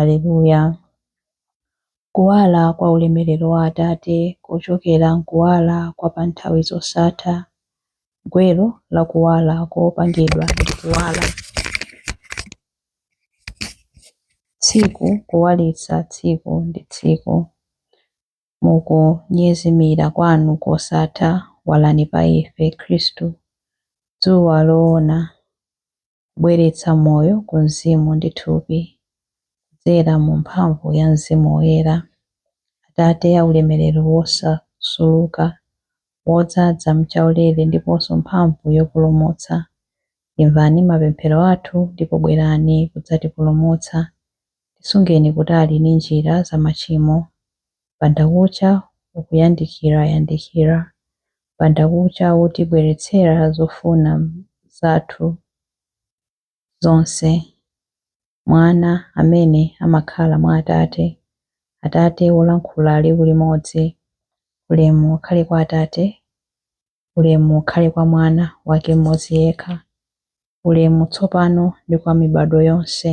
Aleluya! Kuwala kwa ulemerero wa Atate kochokera m'kuwala kwa pa nthawi zosatha, gwero la kuwala kopangidwa ndi kuwala. Tsiku kuwalitsa tsiku ndi tsiku, mu kunyezimira kwanu kosatha walani pa ife, Khristu, dzuwa loona. kubweretsa moyo ku mzimu ndi thupi, kudzera mu mphamvu ya Mzimu Woyera, Atate aulemerero wosasuluka, wodzadza m'chaulere ndiponso mphamvu yopulumutsa, imvani mapemphero athu ndipo bwerani kudzatipulumutsa, tisungeni kutali ndi njira za machimo. M'bandakucha ukuyandikira yandikira, m'bandakucha wotibweretsera zofuna zathu zonse, Mwana amene amakhala mwa Atate, Atate wolankhula liwu limodzi, Ulemu ukhale kwa Atate, ulemu ukhale kwa Mwana Wake Mmodzi yekha, ulemu tsopano ndi kwa mibadwo yonse.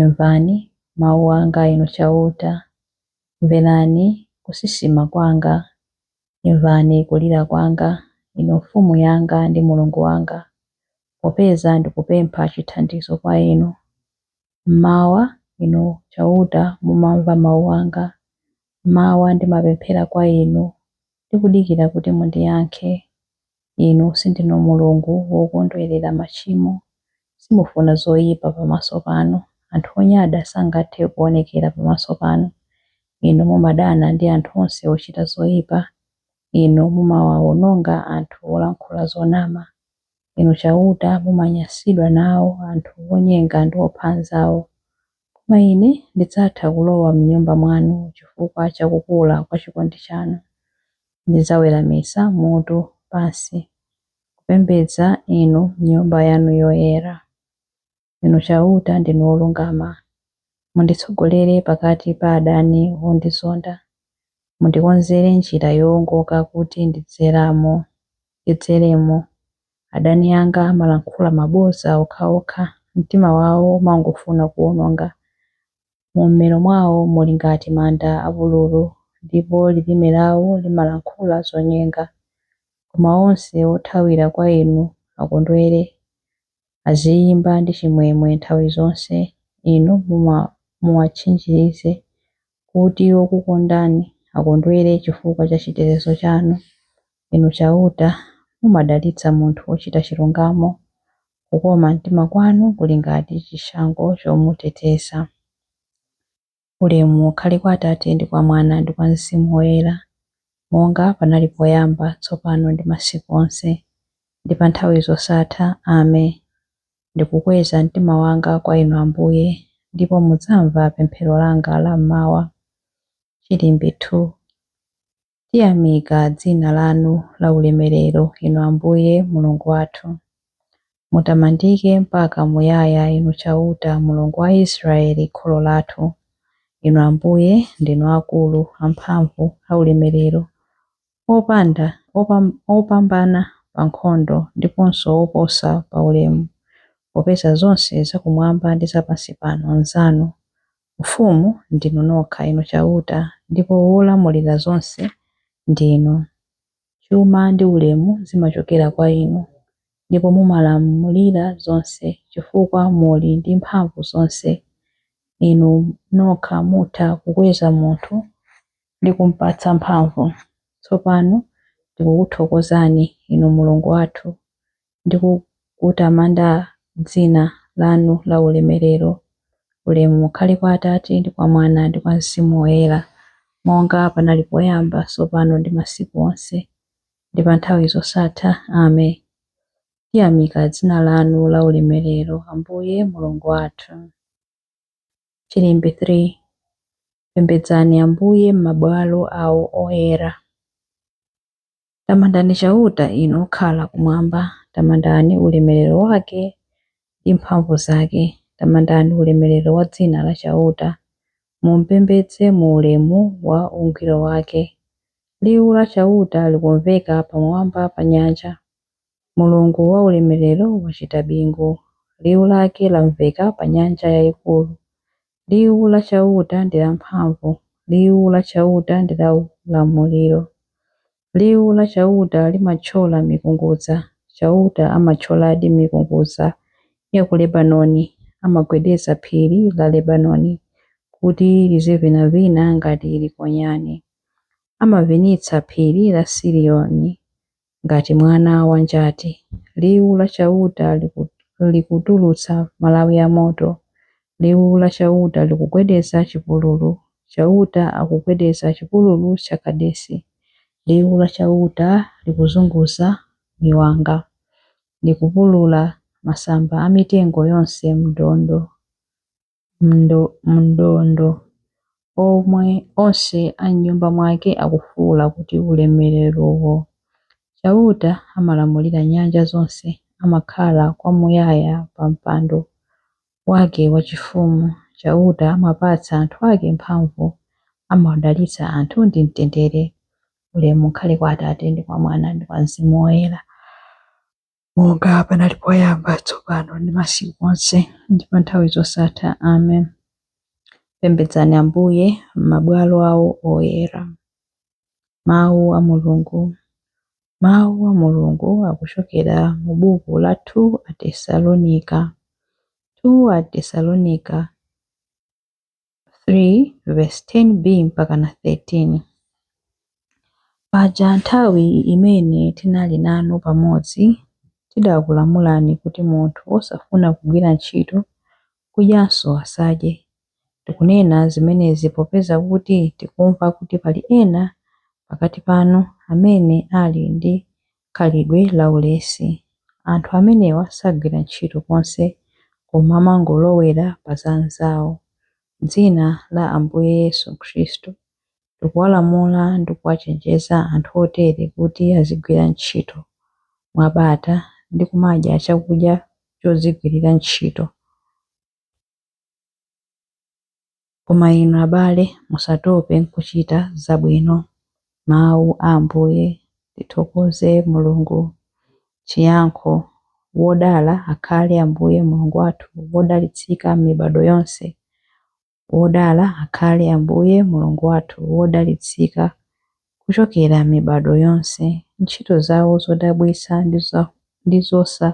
Imvani mawu anga Inu Chauta, mverani kusisima kwanga. Imvani kulira kwanga, Inu Mfumu yanga ndi Mulungu wanga, popeza ndikupempha chithandizo kwa Inu. M'mawa, Inu Chauta, mumamva mawu anga. M'mawa ndimapemphera kwa Inu, ndikudikira kuti mundiyankhe. Inu sindinu Mulungu wokondwerera machimo. Simufuna zoyipa pamaso panu. Anthu onyada sangathe kuonekera pamaso panu. Inu mumadana ndi anthu onse ochita zoyipa. Inu mumawaononga anthu olankhula zonama. Inu Chauta, mumanyansidwa nawo anthu onyenga ndi opha anzawo. Koma ine ndidzatha kulowa m'nyumba mwanu chifukwa cha kukula kwa chikondi chanu. Ndidzaweramitsa mutu pansi kupembedza inu m'nyumba yanu yoyera. Inu Chauta ndinu wolungama. Munditsogolere pakati pa adani ondizonda. Mundikonzere njira yoongoka kuti ndidzeremo. Adani anga amalankhula mabodza okhaokha, mtima wawo umangofuna kuwononga. Mu mmero mwawo muli ngati manda apululu, ndipo lilime lawo limalankhula zonyenga. Koma onse othawira kwa inu akondwere, aziyimba ndi chimwemwe nthawi zonse, Inu muwatchinjirize kuti okukondani akondwere chifukwa cha chitetezo chanu. Inu Chauta, mumadalitsa munthu wochita chilungamo, kukoma mtima kwanu kuli ngati chishango chomuteteza. Ulemu ukhale kwa Atate ndi kwa Mwana ndi kwa Mzimu Woyera, monga panali poyamba, tsopano ndi masiku onse, ndi pa nthawi zosatha. Ame. Ndikukweza mtima wanga kwa Inu Ambuye, ndipo mudzamva pemphero langa la m'mawa. Chilimbi 2 Tiyamika dzina lanu la ulemerero, Inu Ambuye, Mulungu wathu. Mutamandike mpaka muyaya, Inu Chauta, Mulungu wa Israeli, kholo lathu. Inu Ambuye, ndinu akulu, amphamvu, aulemerero, opanda opambana pa nkhondo ndiponso oposa pa ulemu, popeza zonse za kumwamba ndi za pansi pano nzanu, mfumu ndinu nokha, Inu Chauta, ndipo wolamulira zonse ndinu. Chuma ndi ulemu zimachokera kwa Inu, ndipo mumalamulira zonse, chifukwa muli ndi mphamvu zonse. Inu nokha mutha kukweza munthu ndi kum'patsa mphamvu. Tsopano ndikukuthokozani, inu Mulungu wathu, ndi kukutamanda dzina lanu laulemerero. Ulemu ukhale kwa Atate, ndi kwa Mwana, ndi kwa Mzimu Woyera, monga panali poyamba, tsopano ndi masiku onse, ndi pa nthawi zosatha. Ame. Tiyamika dzina lanu laulemerero, Ambuye Mulungu wathu. Chilimbi 3 Pembedzani Ambuye m'mabwalo awo oyera. Tamandani Chauta inu okhala kumwamba, tamandani ulemerero wake ndi mphamvu zake. Tamandani ulemerero wa dzina la Chauta, mumpembedze mu ulemu wa ungwiro wake. Liwu la Chauta likumveka pamwamba pa nyanja, Mulungu waulemerero wachita bingu, liwu lake lamveka pa nyanja yayikulu. Liwu la Chauta ndi lamphamvu, liwu la Chauta ndi laulamuliro. Liwu la Chauta limathyola mikungudza, Chauta amathyoladi mikungudza ya ku Lebanoni, amagwedeza phiri la Lebanoni kuti lizivinavina ngati likonyani. Amavinitsa phiri la Sirioni ngati mwana wa njati. Liwu la Chauta likutulutsa malawi a moto, liwu la Chauta likugwedeza chipululu, Chauta akugwedeza chipululu cha Kadesi. Liwu la Chauta likuzunguza miwanga, likupulula masamba a mitengo yonse m'ndondo. m'ndondo, pomwe onse a m'nyumba mwake akufuula kuti, Ulemererowo! Chauta amalamulira nyanja zonse, amakhala kwamuyaya pa mpando wake wachifumu. Chauta amapatsa anthu ake mphamvu, amawadalitsa anthu ndi mtendere. Ulemu ukhale kwa Atate, ndi kwa Mwana, ndi kwa Mzimu Woyera. monga panali poyamba, tsopano ndi masiku onse, ndi pa nthawi zosatha. Amen. Pembedzani Ambuye m'mabwalo awo oyera. Mawu a Mulungu Mawu a Mulungu akuchokera mu buku la 2 Atesalonika 2 Atesalonika 3 verse 10b mpaka na 13 paja nthawi imene tinali nanu pamodzi tidakulamulani kuti munthu wosafuna kugwira ntchito kudyanso asadye tikunena zimenezi popeza kuti tikumva kuti pali ena pakati panu amene ali ndi khalidwe la ulesi. Anthu amenewa sagwira ntchito konse koma amangolowera pa za anzawo. M'dzina la Ambuye Yesu Khristu, tikuwalamula ndi kuwachenjeza anthu otere kuti azigwira ntchito mwabata ndi kumadya chakudya chodzigwirira ntchito. Koma inu abale, musatope n'kuchita zabwino. Mawu a Ambuye Tithokoze Mulungu Chiyankho Wodala akhale Ambuye Mulungu wathu wodalitsika m'mibadwo yonse, Wodala akhale Ambuye Mulungu wathu wodalitsika kuchokera m'mibadwo yonse, ntchito zawo zodabwitsa ndi zosa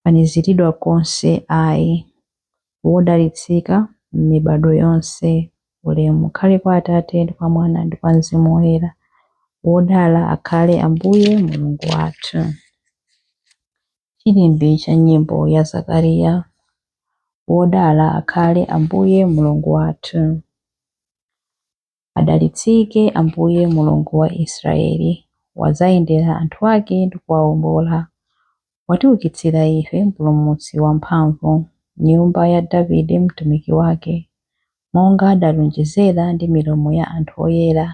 faniziridwa konse ayi. Wodalitsika m'mibadwo yonse. Ulemu ukhale kwa Atate, ndi kwa Mwana, ndi kwa Mzimu Woyera. Wodala akhale Ambuye Mulungu wathu. Chilimbi cha nyimbo ya Zakariya. Wodala akhale Ambuye Mulungu wathu. Adalitsike Ambuye, Mulungu wa Israeli, wadzayendera anthu ake ndi kuwawombola. Watiukitsira ife mpulumutsi wamphamvu, m'nyumba ya Davide mtumiki wake, monga adalonjezera ndi milomo ya anthu oyera,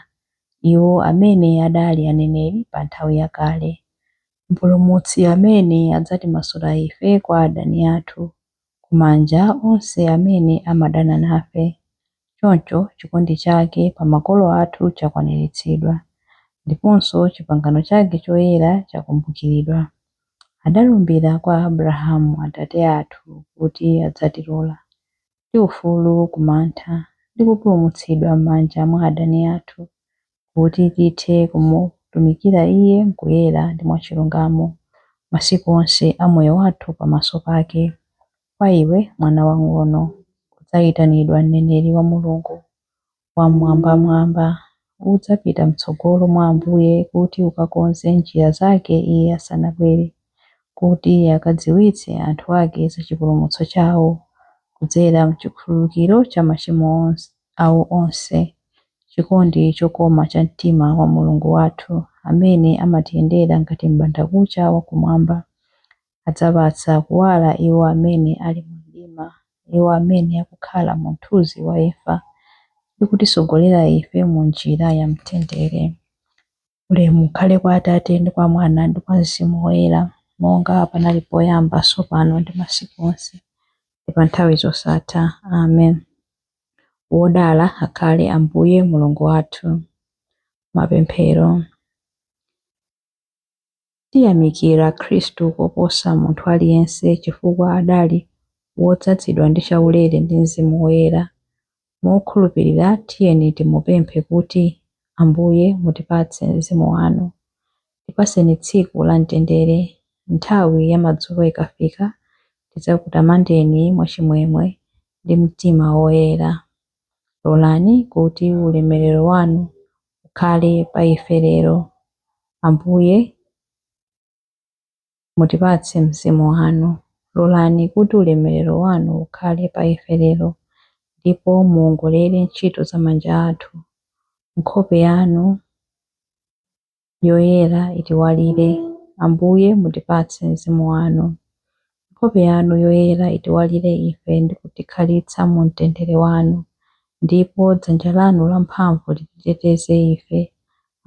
iwo amene adali aneneri pa nthawi yakale. Mpulumutsi amene adzatimasula ife kwa adani athu, ku manja a onse amene amadana nafe. Choncho, chikondi chake pa makolo athu chakwaniritsidwa, ndiponso chipangano chake choyera chakumbukiridwa. Adalumbira kwa Abrahamu atate athu kuti adzatilola. ndi ufulu ku mantha ndi kupulumutsidwa m'manja mwa adani athu, kuti tithe kumutumikira Iye m'kuyera ndi mwachilungamo masiku onse a moyo wathu pamaso pake. Kwa iwe, mwana wamng'ono, udzaitanidwa mneneri wa Mulungu, Wammwambamwamba, udzapita mtsogolo mwa Ambuye kuti ukakonze njira zake iye asanabwere, kuti akadziwitse anthu ake za chipulumutso chawo kudzera m'chikhululukiro cha machimo awo onse, chikondi chokoma cha mtima wa Mulungu wathu, amene amatiyendera ngati m'bandakucha wa kumwamba, adzapatsa kuwala iwo amene ali mu mdima, iwo amene akukhala mu mthunzi wa imfa, ndi kutitsogolera ife mu njira ya mtendere. Ulemu ukhale kwa Atate, ndi kwa Mwana, ndi kwa Mzimu Woyera, monga panali poyamba, tsopano, ndi masiku onse, ndi pa nthawi zosatha. Amen. Wodala akhale Ambuye Mulungu wathu. Mapemphero. Tiyamikira Khristu koposa munthu aliyense chifukwa adali wodzadzidwa ndi chaulere ndi Mzimu Woyera. Mokhulupirira tiyeni timupemphe kuti, Ambuye mutipatse Mzimu wanu. Tipatseni tsiku la mtendere. Nthawi ya madzulo ikafika, tidzakutamandeni mwachimwemwe ndi mtima woyera. Lolani kuti ulemerero wanu ukhale pa ife lero. Ambuye, mutipatse Mzimu wanu. Lolani kuti ulemerero wanu ukhale pa ife lero, ndipo muwongolere ntchito za manja athu. Nkhope yanu yoyera itiwalire. Ambuye, mutipatse Mzimu wanu. Nkhope yanu yoyera itiwalire ife ndi kutikhalitsa mu mtendere wanu, ndipo dzanja lanu lamphamvu lititeteze ife.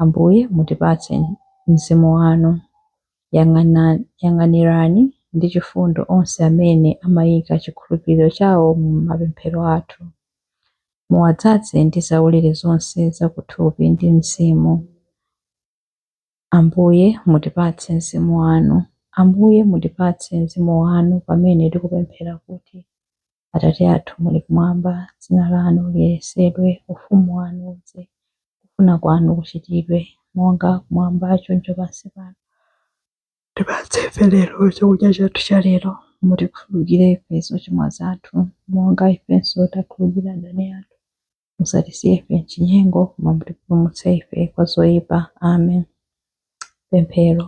Ambuye, mutipatse Mzimu wanu. Yang'anirani ndi chifundo onse amene amaika chikhulupiriro chawo mu mapemphero athu. Muwadzadze ndi zaulere zonse za kuthupi ndi mzimu. Ambuye, mutipatse mzimu wanu. Ambuye, mutipatse mzimu wanu pamene tikupemphera kuti, Atate athu muli kumwamba, dzina lanu liyeretsedwe, ufumu wanu udze, kufuna kwanu kuchitidwe, monga kumwamba choncho pansi pano. Tipatse ife lero chakudya chathu cha lero. Mutikhululukire ife zochimwa zathu, monga ifenso takhululukira adani athu. musatisiye ife m'chinyengo koma mutipulumutse ife kwa zoyipa amen pemphero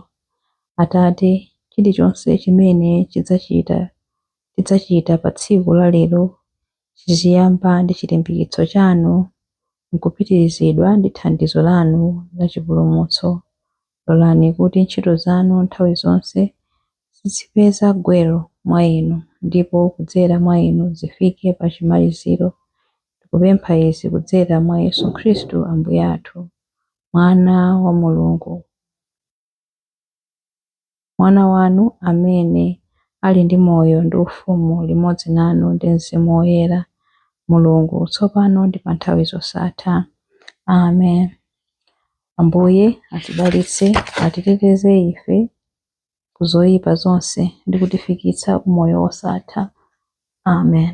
atate chilichonse chimene chidzachita tidzachita pa tsiku la lero chiziyamba ndi chilimbikitso chanu nkupitirizidwa ndi thandizo lanu la chipulumutso Lolani kuti ntchito zanu nthawi zonse zizipeza gwero mwa inu ndipo kudzera mwa inu zifike pa chimaliziro. Tikupempha izi kudzera mwa Yesu Khristu Ambuye athu, Mwana wa Mulungu. Mwana wanu amene ali ndi moyo ndi ufumu limodzi nanu ndi Mzimu Woyera, Mulungu, tsopano ndi panthawi zosatha. Amen. Ambuye atidalitse, atiteteze ife ku zoyipa zonse ndi kutifikitsa ku moyo wosatha. Amen.